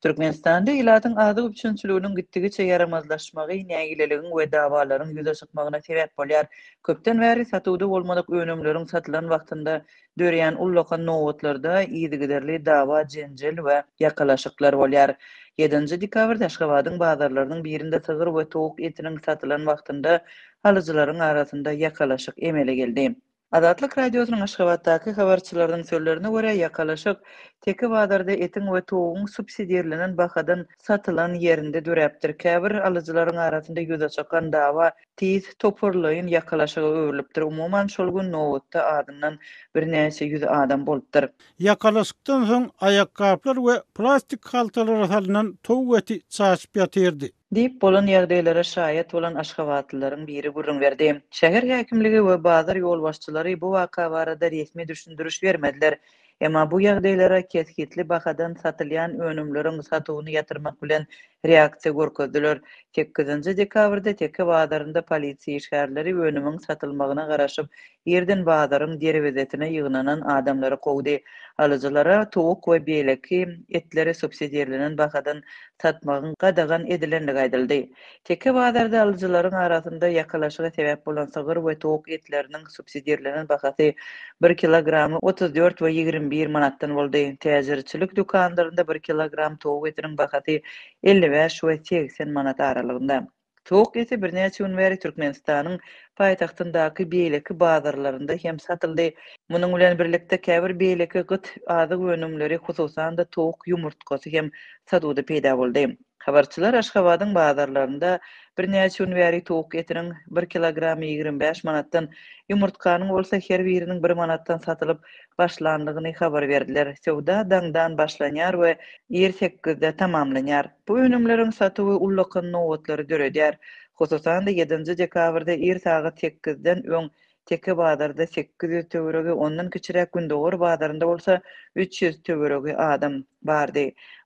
Türkmenistanda ilatyň azyk üpjünçiliginiň gitdigiçe ýaramazlaşmagy nägileligiň we dawalaryň ýüze çykmagyna sebäp bolýar. Köpden bäri satuwda bolmadyk önümleriň satylan wagtynda döreýän ullakan nobatlarda yzygiderli dawa-jenjel we ýakalaşyklar bolýar. Ýedinji dekabrda Aşgabadyň bazarlarynyň birinde sygyr we towuk etiniň satylan wagtynda alyjylaryň arasynda ýakalaşyk emele geldi. Azatlyk Radiosynyň Aşgabatdaky habarçylarynyň sözlerine görä, ýakalaşyk Teke bazarda etiň we towugyň subsidirlenen bahadan satylan ýerinde döräpdir. Käbir alyjylaryň arasynda ýüze çykan dawa tiz toparlaýyn ýakalaşyga öwrülipdir. Umuman, şol gün nobatda azyndan birnäçe ýüz adam bolupdyr. Ýakalaşykdan soň aýakgaplar we plastik haltalara salnan towuk eti çaşyp ýatyrdy. Diýip, bolan ýagdaýlara şaýat bolan aşgabatlylaryň biri gürrüň berdi. Şäher häkimligi we bazar ýolbaşçylary bu waka barada resmi düşündiriş bermediler. Emma bu ýagdaýlara kesgitli bahadan satylýan önümleriň satuwyny ýatyrmak bilen reaksiýa görkezdiler. Sekizinji dekabrda Teke bazarynda polisiýa işgärleri önümiň satylmagyna garaşyp, Irden bazaryň derwezesine ýygnanan adamlary kowdy. Alyjylara towuk we beýleki etleri subsidirlenen bahadan satmagyň gadagan edilendigi aýdyldy. Teke bazarda alyjylaryň arasynda ýakalaşyga sebäp bolan sygyr we towuk etleriniň subsidirlenen bahasy bir kilogramy otuz dört we ýigrimi bir manatdan boldy. Täjirçilik dükanlarynda bir kilogram towuk etiniň bahasy elli bäş we segsen manat aralygynda. Tok eti birnäçe gün bäri Türkmenistanyň paýtagtyndaky beýleki bazarlarynda hem satyldy. Munuň bilen birlikde, käbir beýleki gyt azyk önümleri, hususan-da, towuk ýumurtgasy hem satuwda peýda boldy. Habarçylar Aşgabadyň bazarlarynda birnäçe gün bäri towuk etiniň bir kilogramy ýigrimi bäş manatdan, ýumurtganyň bolsa her biriniň bir manatdan satylyp başlandygyny habar berdiler. Söwda daňdan başlanýar we ir sekizde tamamlanýar. Bu önümleriň satuwy ullakan nobatlary döredýär. Hususan-da, ýedinji dekabrda ir sagat sekizden öň Teke bazarda sekiz ýüz töweregi, ondan kiçiräk Gündogar bazarynda bolsa üç ýüz töweregi adam bardy.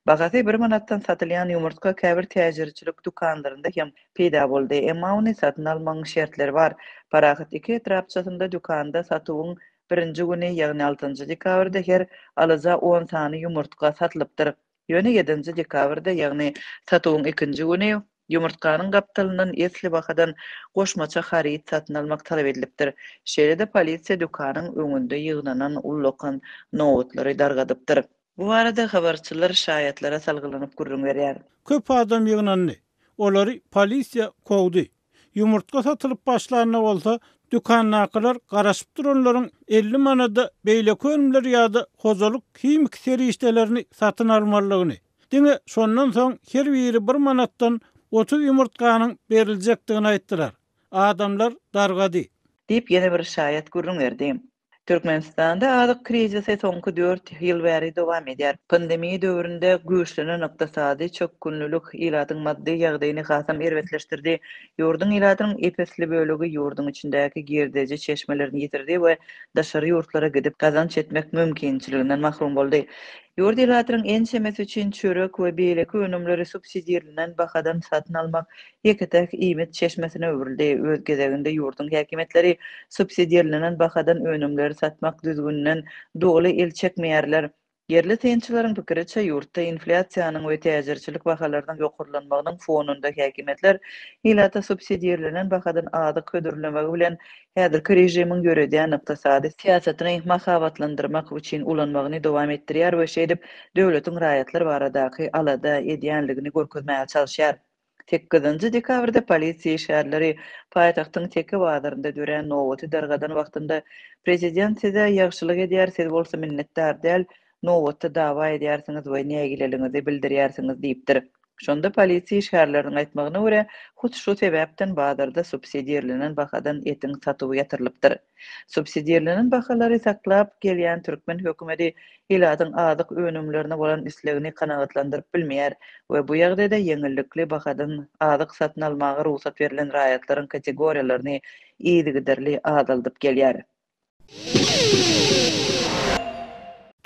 Bahasy bir manatdan satylýan ýumurtga käbir täjirçilik dükanlarynda hem peýda boldy. Emma ony satyn almagyň şertleri bar. Parahat iki etrapçasynda dükanda satuwyň birinji güni, ýagny altynjy dekabrda her alyja on sany ýumurtga satylypdyr. Ýöne ýedinji dekabrda, ýagny satuwyň ikinji güni, ýumurtganyň gapdalyndan esli bahadan goşmaça haryt satyn almak talap edilipdir. Şeýle-de polisiýa dükanyň öňünde ýygnanan ullakan nobatlary dargadypdyr. Bu barada habarçylar şaýatlara salgylanyp gürrüň berýär. Köp adam ýygnandy. Olary polisiýa kowdy. Ýumurtga satylyp başlanda bolsa, dükandakylar garaşyp duranlaryň elli manada beýleki önümler ýa-da hojalyk himiki serişdelerini satyn almalydygyny, diňe şondan soň her biri bir manatdan otuz ýumurtganyň beriljekdigini aýtdylar. Adamlar dargady. Diýip, ýene bir şaýat gürrüň berdi. Türkmenistanda azyk krizisi soňky dört ýyl bäri dowam edýär. Pandemiýa döwründe güýçlenen ykdysady çökgünlilik ilatyň maddy ýagdaýyny hasam erbetleşdirdi. Ýurduň ilatynyň ep-esli bölegi ýurduň içindäki girdeji çeşmelerini ýitirdi we daşary ýurtlara gidip gazanç etmek mümkinçiliginden mahrum boldy. Ýurt ilatynyň ençemesi üçin çörek we beýleki önümleri subsidirlenen bahadan satyn almak ýeke-täk iýmit çeşmesine öwrüldi. Öz gezeginde ýurduň häkimiýetleri subsidirlenen bahadan önümleri satmak düzgüninden doly el çekmeýärler. Ýerli synçylaryň pikiriçe, ýurtda inflýasiýanyň we täjirçilik bahalarynyň ýokarlanmagynyň fonunda häkimiýetler ilata subsidirlenen bahadan azyk hödürlemegi bilen häzirki režimiň ýöredýän ykdysady syýasatyny mahabatlandyrmak üçin ulanmagyny dowam etdirýär we şeýdip döwletiň raýatlar baradaky alada edýänligini görkezmäge çalyşýar. Sekizinji dekabrda polisiýa işgärleri paýtagtyň Teke bazarynda dörän nobaty dargadan wagtynda Prezident size ýagşylyk edýär, siz bolsa minnetdar däl, nobatda dawa edýärsiňiz we nägileligiňizi bildirýärsiňiz diýipdir. Şonda polisiýa işgärleriniň aýtmagyna görä, hut şu sebäpden bazarda subsidirlenen bahadan etiň satuwy ýatyrylypdyr. Subsidirlenen bahalary saklap gelýän türkmen hökümeti ilatyň azyk önümlerine bolan islegini kanagatlandyryp bilmeýär we bu ýagdaýda ýeňillikli bahadan azyk satyn almaga rugsat berlen raýatlaryň kategoriýalaryny yzygiderli azaldyp gelýär.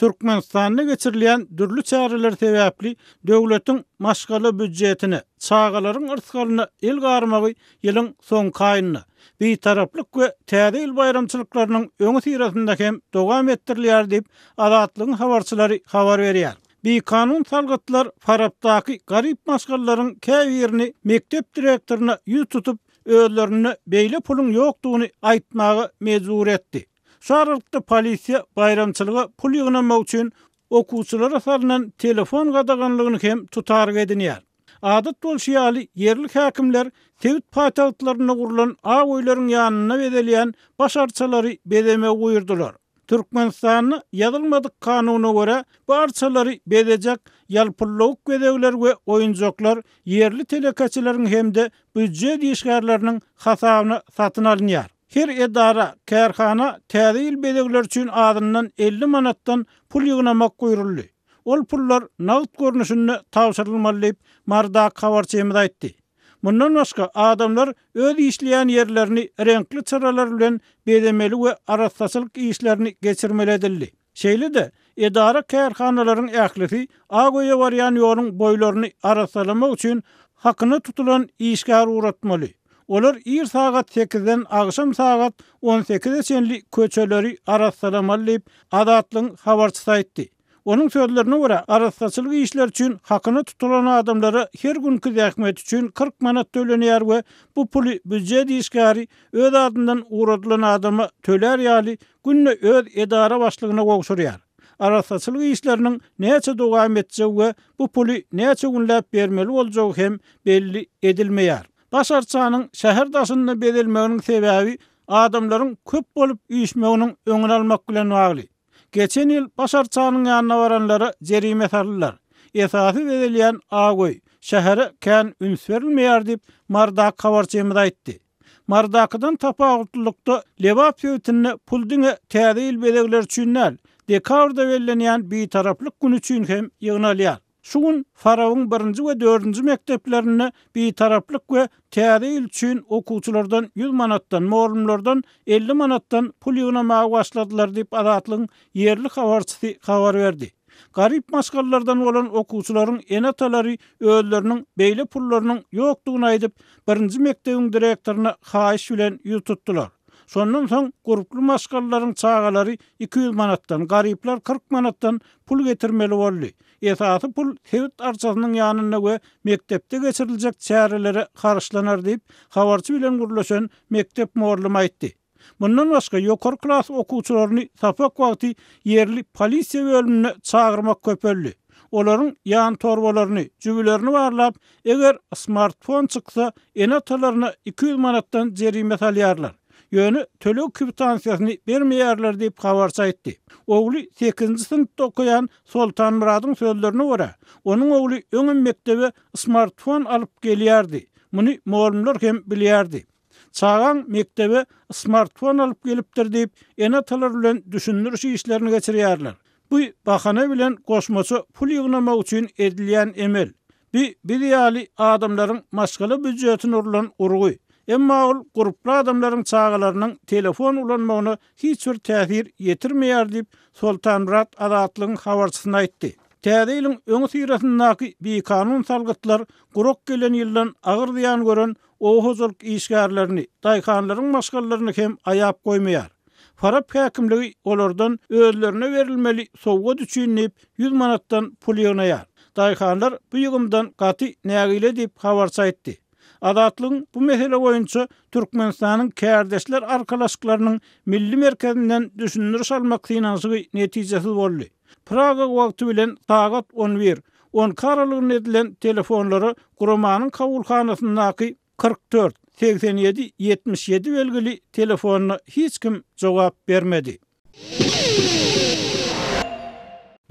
Türkmenistanda geçirilýän dürli çäreler sebäpli döwletiň maşgala býudjetine, çagalaryň yrsgalyna el garmagy Ýylyň soňky aýynda Bitaraplyk we Täze ýyl baýramçylyklarynyň öňüsyrasynda hem dowam etdirilýär diýip, Azatlygyň habarçylary habar berýär. Bikanun salgytlar Farapdaky garyp maşgalalaryň käbirini mekdep direktoryna ýüz tutup, özlerinde beýle puluň ýokdugyny aýtmaga mejbur etdi. Şu aralykda polisiýa baýramçylyga pul ýygnamak üçin okuwçylara salnan telefon gadaganlygyny hem tutarga edinýär. Adat bolşy ýaly, ýerli häkimler sebit paýtagtlarynda gurlan aw öýleriň ýanynda bezelýän baş arçalary bezemegi buýurdylar. Türkmenistanda ýazylmadyk kanuna görä, bu arçalary bezejek ýalpyllawuk bezegler we oýunjaklar ýerli telekeçileriň hem-de býujet işgärleriniň hasabyna satyn alynýar. Her edara, kärhana Täze ýyl bezegleri üçin azyndan elli manatdan pul ýygnamak buýruldy. Ol pullar nagt görnüşinde tabşyrylmaly diýip, Mardak habarçymyz aýtdy. Mundan başga, adamlar öz işleýän ýerlerini reňkli çyralar bilen bezemeli we arassaçylyk işlerini geçirmeli edildi. Şeýle-de, edara-kärhanalaryň ählisi Ak öýe barýan ýoluň boýlaryny arassalamak üçin hakyna tutulan işgär ugratmaly. Olar ir sagat sekizden agşam sagat on sekize çenli köçeleri arassalamaly diýip, Azatlygyň habarçysy aýtdy. Onuň sözlerine görä, arassaçylyk işleri üçin hakyna tutulan adamlara her günki zähmeti üçin kyrk manat tölenýär we bu puly býujet işgäri öz adyndan ugradylan adama tölär ýaly günde öz edara başlygyna gowşurýar. Arassaçylyk işleriniň näçe dowam etjegi we bu puly näçe günläp bermeli boljagy hem belli edilmeýär. Baş arçanyň şäher daşynda bezelmeginiň sebäbi adamlaryň köp bolup üýşmeginiň öňüni almak bilen bagly. Geçen ýyl baş arçanyň ýanyna baranlara jerime saldylar. Esasy bezelýän Aköý, şähere kän üns berilmeýär diýip, Mardak habarçymyz aýtdy. Mardakydan tapawutlylykda, Lebap sebitinde pul diňe Täze ýyl bezegleri üçin däl, dekabrda bellenýän Bitaraplyk güni üçin hem ýygnalýar. Şu gün Farabyň birinji we dördünji mekdeplerinde Bitaraplyk we Täze ýyl üçin okuwçylardan ýüz manatdan, mugallymlardan elli manatdan pul ýygnamaga başladylar diýip, Azatlygyň ýerli habarçysy habar berdi. Garyp maşgalalardan bolan okuwçylaryň ene-atalary özleriniň beýle pullarynyň ýokdugyny aýdyp, birinji mekdebiň direktoryna haýyş bilen ýüz tutdular. Şondan soň gurply maşgalalaryň çagalary iki ýüz manatdan, garyplar kyrk manatdan pul getirmeli boldy. Esasy pul sebit arçasynyň ýanynda we mekdepde geçiriljek çärelere haryçlanar diýip, habarçy bilen gürleşen mekdep mugallym aýtdy. Mundan başga, ýokary klas okuwçylaryny sapak wagty ýerli polisiýa bölümine çagyrmak köpeldi. Olaryň ýantorbalaryny, jübülerini barlap, eger smartfon çyksa, ene-atalaryna iki ýüz manatdan jerime salýarlar. Ýöne töleg kwitansiýasyny bermeýärler diýip, habarçy aýtdy. Ogly sekizinji synpda okaýan Soltanmyradyň sözlerine görä, onuň ogly öňem mekdebe smartfon alyp gelýärdi, muny mugallymlar hem bilýärdi. Çagaň mekdebe smartfon alyp gelipdir diýip, ene-atalar bilen düşündiriş işlerini geçirýärler. Bu bahana bilen goşmaça pul ýygnamak üçin edilýän emel. Bu biz ýaly adamlaryň maşgala býujetine urlan urgy. Emma ol gurply adamlaryň çagalarynyň telefon ulanmagyna hiç bir täsir ýetirmeýär diýip, Soltanmyrat Azatlygyň habarçysyna aýtdy. Täze ýylyň öňüsyrasyndaky bikanun salgytlar gurak gelen ýyldan agyr zyýan gören oba hojalyk işgärlerini, daýhanlaryň maşgalalaryny hem aýap goýmaýar. Farap häkimligi olardan özlerine berilmeli sowgat üçin diýip, ýüz manatdan pul ýygnaýar. Daýhanlar bu ýygymdan gaty nägile diýip, habarçy aýtdy. Azatlygyň bu mesele boýunça Türkmenistanyň Kärdeşler arkalaşyklarynyň Milli merkezinden düşündiriş almak synanyşygy netijesiz boldy. Praga wagty bilen sagat on bir, on iki aralygynda edilen telefonlara guramanyň kabulhanasyndaky kyrk dört, segsen ýedi, ýetmiş ýedi belgili telefonyna hiç kim jogap bermedi.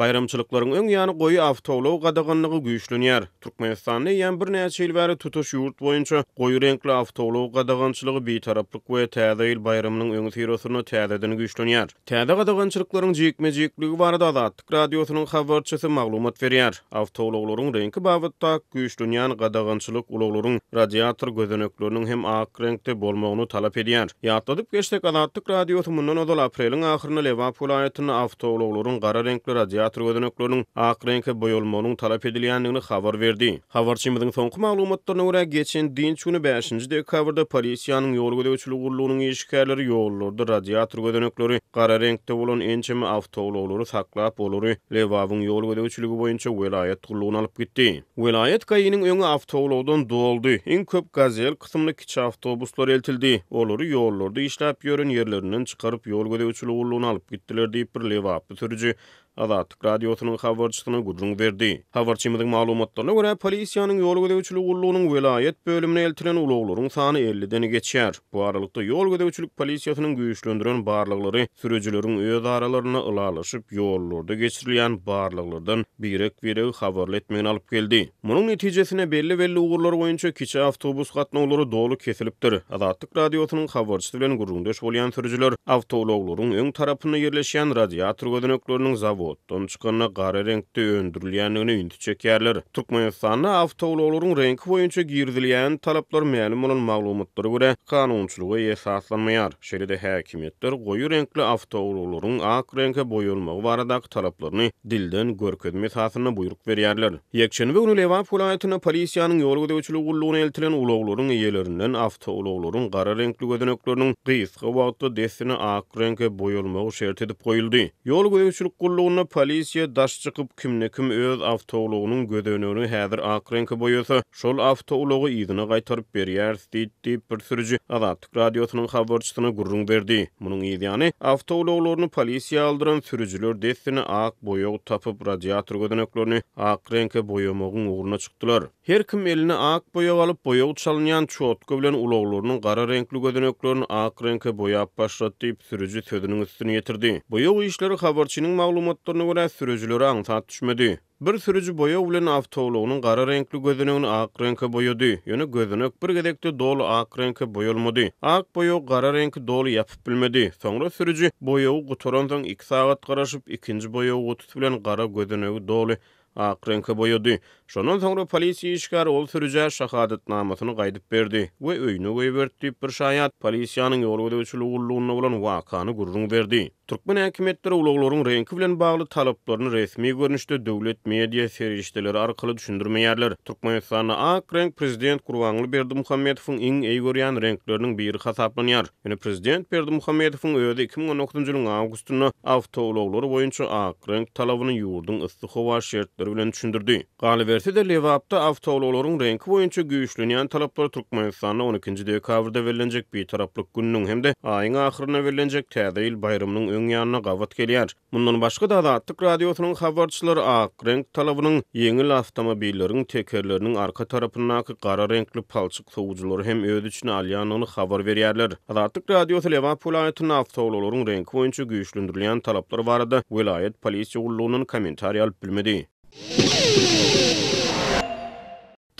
Baýramçylyklaryň öň ýany goýy awtoulag gadaganlygy güýçlenýär. Türkmenistanda eýýäm birnäçe ýyl bäri tutuş ýurt boýunça goýy reňkli awtoulag gadagançylygy Bitaraplyk we Täze ýyl baýramynyň öňüsyrasynda täzeden güýçlenýär. Täze gadagançylyklaryň jikme-jikligi barada Azatlyk Radiosynyň habarçysy maglumat berýär. Awtoulaglaryň reňki babatda güýçlenýän gadagançylyk ulaglaryň radiator gözenekleriniň hem ak reňkde bolmagyny talap edýär. Ýatladyp geçsek, Azatlyk Radiosy mundan ozal apreliň ahyrynda Lebap welaýatynda awtoulaglaryň gara reňkli radiator gözenekleriniň ak reňke boýalmagynyň talap edilýändigini habar berdi. Habarçymyzyň soňky maglumatlaryna görä, geçen dynç güni, bäşinji dekabrda polisiýanyň ýol gözegçiligi gullugynyň işgärleri ýollarda radiator gözenekleri gara reňkde bolan ençeme awtoulaglary saklap, olary Lebabyň ýol gözegçiligi boýunça welaýat gullugyna alyp gitdi. Welaýat GAI-niň öňi awtoulagdan doldy, iň köp Gazel kysymly kiçi awtobuslar eltildi, olary ýollarda işläp ýören ýerlerinden çykaryp, ýol gözegçiligi gullugyna alyp gitdiler diýip, bir lebaply sürüji Azatlyk Radiosynyň habarçysyna gürrüň berdi. Habarçymyzyň maglumatlaryna görä, polisiýanyň ýol gözegçiligi gullugynyň welaýat bölümine eltilen ulaglaryň sany elliden geçýär. Bu aralykda, ýol gözegçilik polisiýasynyň güýçlendiren barlaglary sürüjileriň öz aralarynda ylalaşyp, ýollarda geçirilýän barlaglardan birek-biregi habarly etmegine alyp geldi. Munuň netijesinde belli-belli ugurlar boýunça kiçi awtobus gatnawlary doly kesilipdir. Azatlyk Radiosynyň habarçysy bilen gürrüňdeş bolýan sürüjiler awtoulaglaryň öň tarapynda ýerleşýän radiator gözenekleriniň zawoddan çykanda gara reňkde öndürilýändigine ünsi çekýärler. Türkmenistanda awtoulaglaryň reňki boýunça girizilýän talaplar mälim bolan maglumatlara görä, kanunçylyga esaslanmaýar. Şeýle-de häkimiýetler goýy reňkli awtoulaglaryň ak reňke boýalmagy baradaky talaplaryny dilden görkezme esasynda buýruk berýärler. Ýekşenbe güni Lebap welaýatynda polisiýanyň ýol gözegçiligi gullugyna eltilen ulaglaryň eýelerinden awtoulaglaryň gara reňkli gözenekleriniň gysga wagtda dessine ak reňke boýalmagy şert edip goýuldy. Ýol gözegçilik gullugynda polisiýa daş çykyp, kimde-kim öz awtoulagynyň gözenegini häzir ak reňke boýasa, şol awtoulagy yzyna gaýtaryp berýäris diýdi diýip, bir sürüji Azatlyk. Azatlyk Radiosynyň habarçysyna gürrüň berdi. Munuň yz ýany, awtoulaglaryny polisiýa aldyran sürüjiler dessine ak boýag tapyp, radiator gözeneklerini ak reňke boýamagyň ugruna çykdylar. Her kim eline ak boýag alyp, boýag çalynýan çotka bilen ulaglarynyň gara reňkli gözeneklerini ak reňke boýap başlady diýip, sürüji sözüniň üstüni ýetirdi. Boýag işleri habarçynyň maglumatlaryna görä, sürüjilere aňsat düşmedi. Bir sürüji boýag bilen awtoulagynyň gara reňkli gözenegini ak reňke boýady. Ýöne gözenek bir gezekde doly ak reňke boýalmady. Ak boýagy gara reňki doly ýapyp bilmedi. Soňra sürüji boýagy gutaransoň iki sagat garaşyp, ikinji boýag gutusy bilen gara gözenegi doly ak reňke boýady. Şondan soňra polisiýa işgäri ol sürüjä şahadatnamasyny gaýdyp berdi we öýüne goýberdi diýip, bir şaýat polisiýanyň ýol gözegçiligi gullugynda bolan wakany gürrüň berdi. Türkmen häkimiýetleri ulaglaryň reňki bilen bagly talaplaryny resmi görnüşde döwlet media serişdeleri arkaly düşündirmeýärler. Türkmenistanda ak reňk prezident Gurbanguly Berdimuhamedowyň iň eý görýän reňkleriniň biri hasaplanýar. Ýöne prezident Berdimuhamedowyň özi iki müň on dokuzynjy ýylyň awgustynda awtoulaglary boýunça ak reňk talabyny ýurduň yssy howa şertleri bilen düşündirdi. Galyberse-de, Lebapda awtoulaglaryň reňki boýunça güýçlenýän talaplar Türkmenistanda on ikinji dekabrda bellenjek Bitaraplyk gününiň hem-de aýyň ahyrynda bellenjek Täze ýyl baýramynyň öň ýanyna gabat gelýär. Mundan başga-da, Azatlyk Radiosynyň habarçylary ak reňk talabynyň ýeňil awtomobilleriň tekerleriniň arka tarapyndaky gara reňkli palçyk sowujylary hem öz içine alýandygyny habar berýärler. Azatlyk Radiosy Lebap welaýatynda awtoulaglaryň reňki boýunça güýçlendirilýän talaplar barada welaýat polisiýa gullugyndan kommentariý alyp bilmedi.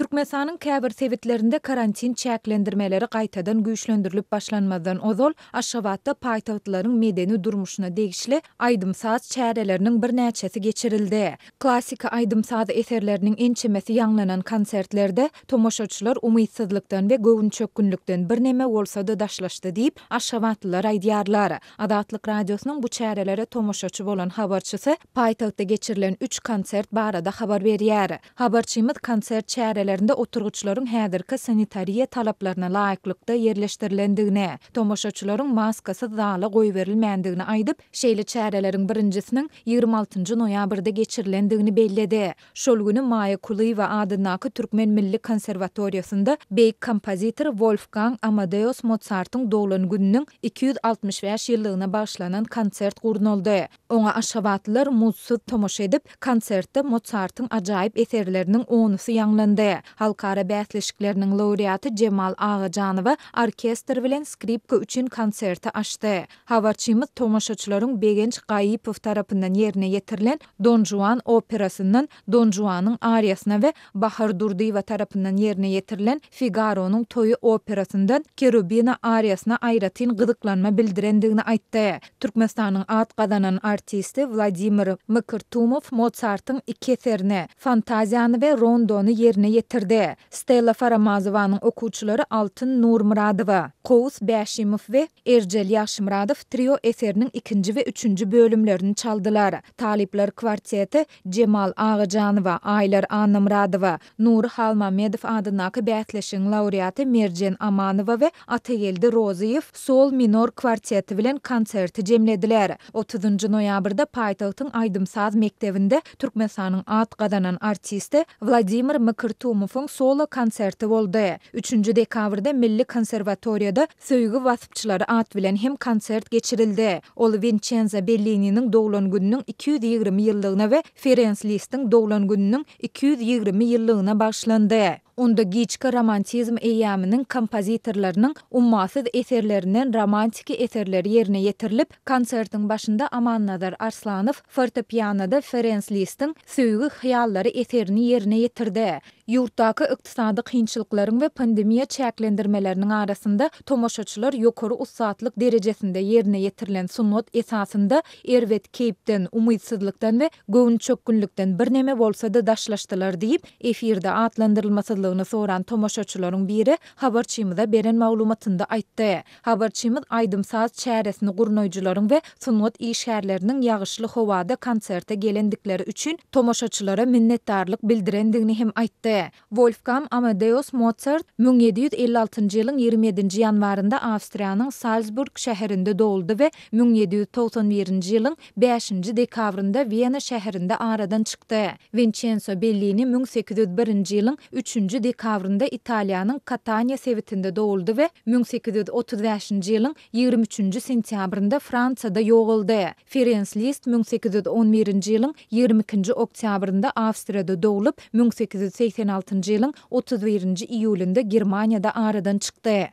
Türkmenistanyň käbir sebitlerinde karantin çäklendirmeleri gaýtadan güýçlendirilip başlanmazdan ozal, Aşgabatda paýtagtlylaryň medeni durmuşyna degişli aýdym-saz çäreleriniň birnäçesi geçirildi. Klassyky aýdym-saz eserleriniň ençemesi ýaňlanan konsertlerde tomaşaçylar umytsyzlykdan we göwünçökgünlikden birneme bolsa-da daşlaşdy diýip, aşgabatlylar aýdýarlar. Azatlyk Radiosynyň bu çärelere tomaşaçy bolan habarçysy paýtagtda geçirilen üç konsert barada habar berýär. Habarçymyz konsert çärelerinde oturgyçlaryň häzirki sanitariýa talaplaryna laýyklykda ýerleşdirilendigini, tomaşaçylaryň maskasyz zala goýberilmändigini aýdyp, şeýle çäreleriň birinjisiniň ýigrimi altynjy noýabrda geçirilendigini belledi. Şol güni Maýa Kulyýewa adyndaky Türkmen milli konserwatoriýasynda beýik kompozitor Wolfgang Amadeus Mozartyň doglan gününiň iki ýüz altmyş bäş ýyllygyna bagyşlanan konsert gurnaldy. Oňa aşgabatlylar muzdsuz tomaşa edip, konsertde Mozartyň ajaýyp eserleriniň onusy ýaňlandy. Halkara bäsleşikleriniň laureaty Jemal Agajanowa orkestr bilen skripka üçin konserti açdy. Habarçymyz tomaşaçylaryň Begenç Gaýypow tarapyndan ýerine ýetirilen Don Juan operasyndan Don Juanyň ariýasyna we Bahar Durdyýewa tarapyndan ýerine ýetirilen Figaronyň toýy operasyndan Kerubina ariýasyna aýratyn gyzyklanma bildirendigini aýtdy. Türkmenistanyň at gazanan artisti Wladimir Mkrtumow Motsartyň iki eserini, Fantaziýany we Rondony ýerine ýetirdi. Stella Faramazowanyň okuwçylary Altyn Nurmyradowa, Kowus Bäşimow we Erjel Ýagşymyradow Trio eseriniň ikinji we üçünji bölümlerini çaldylar. Talyplar kwarteti Jemal Agajanowa, Aýlar Annamyradowa, Nury Halmämmedow adyndaky bäsleşigiň laureaty Merjen Amanowa we Atageldi Rozyýew, Sol minor kwarteti bilen konserti jemlediler. Otuzynjy noýabrda paýtagtyň aýdym-saz mekdebinde Türkmenistanyň at gazanan artisti Wladimir Mkrtumowyň solo konserti boldy. Üçünji dekabrda Milli konserwatoriýada Söýgi waspçylary at bilen hem konsert geçirildi. Ol Winçenzo Bellininiň doglan gününiň iki ýüz ýigrimi ýyllygyna we Ferens Listiň doglan gününiň iki ýüz ýigrimi ýyllygyna bagyşlandy. Onda giçki romantizm eýýamynyň kompozitorlarynyň ummasyz eserlerinden romantiki eserler ýerine ýetirilip, konsertiň başynda Amannazar Arslanow fortepianoda Ferens Listiň Söýgi hyýallary eserini ýerine ýetirdi. Ýurtdaky ykdysady kynçylyklaryň we pandemiýa çäklendirmeleriniň arasynda tomaşaçylar ýokary ussatlyk derejesinde ýerine ýetirilen sungat esasynda Erbet keýpden, umytsyzlykdan we göwnüçökgünlikden birneme bolsa-da daşlaşdylar diýip, efirde atlandyrylmasyzlygyny soran tomaşaçylaryň biri habarçymyza beren maglumatynda aýtdy. Habarçymyz aýdym-saz çäresini gurnaýjylaryň we sungat işgärleriniň ýagyşly howada konserte gelendikleri üçin tomaşaçylara minnetdarlyk bildirendigini hem aýtdy. Wolfgam Amadeus Mozart müň ýedi ýüz elli altynjy ýylyň ýigrimi ýedinji ýanwarynda Awstriýanyň Salzburg şäherinde doguldy we müň ýedi ýüz togsan birinji ýylyň bäşinji dekabrynda Wena şäherinde aradan çykdy. Winçenso Bellini müň sekiz ýüz birinji ýylyň üçünji dekabrynda Italiýanyň Kataniýa sebitinde doguldy we müň sekiz ýüz otuz bäşinji ýylyň ýigrimi üçünji sentýabrynda Fransiýada ýogaldy. Ferenc List müň sekiz ýüz on birinji ýylyň ýigrimi ikinji oktýabrynda Awstriýada doglup, müň sekiz ýüz segsen altynjy ýylyň otuz birinji iýulynda Germaniýada aradan çykdy.